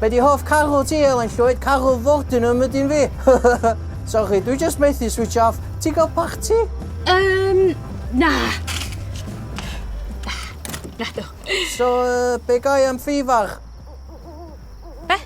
Be di hoff carw ti Elen Llwyd? Carw Fortnum ydi un fi. Sorry, dwi just methu switch off. Ti'n cael parti? Um, na. Na, do. So, uh, be gai am ffifar? Be?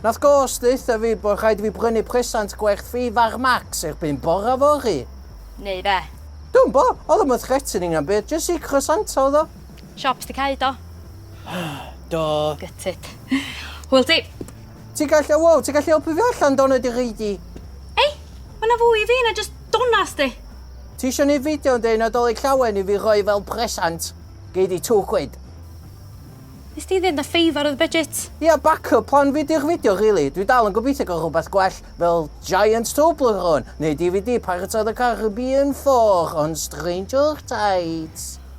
Nath gos ddeitha fi bod rhaid fi brynu presant gwerth ffifar max erbyn bora fori. Neu be? Dwi'n bo, oedd yma threatening am byd, just i crosanto oedd o. Siop sti cau do? do. Gytid. Hwyl ti. Ti gallu, wow, ti gallu helpu fi allan dona di gidi. Ei, mae na fwy i fi na just donas di. Ti eisiau ni fideo yn dweud nadolig llawen i fi roi fel presant. Gei di two quid. Nes ti ddim da ffeifar oedd budget? Ia, yeah, backup plan fi di'r fideo, really. Dwi dal yn gobeithio gael rhywbeth gwell fel Giant Toblerone neu DVD Pirates of the Caribbean 4 on Stranger Tides.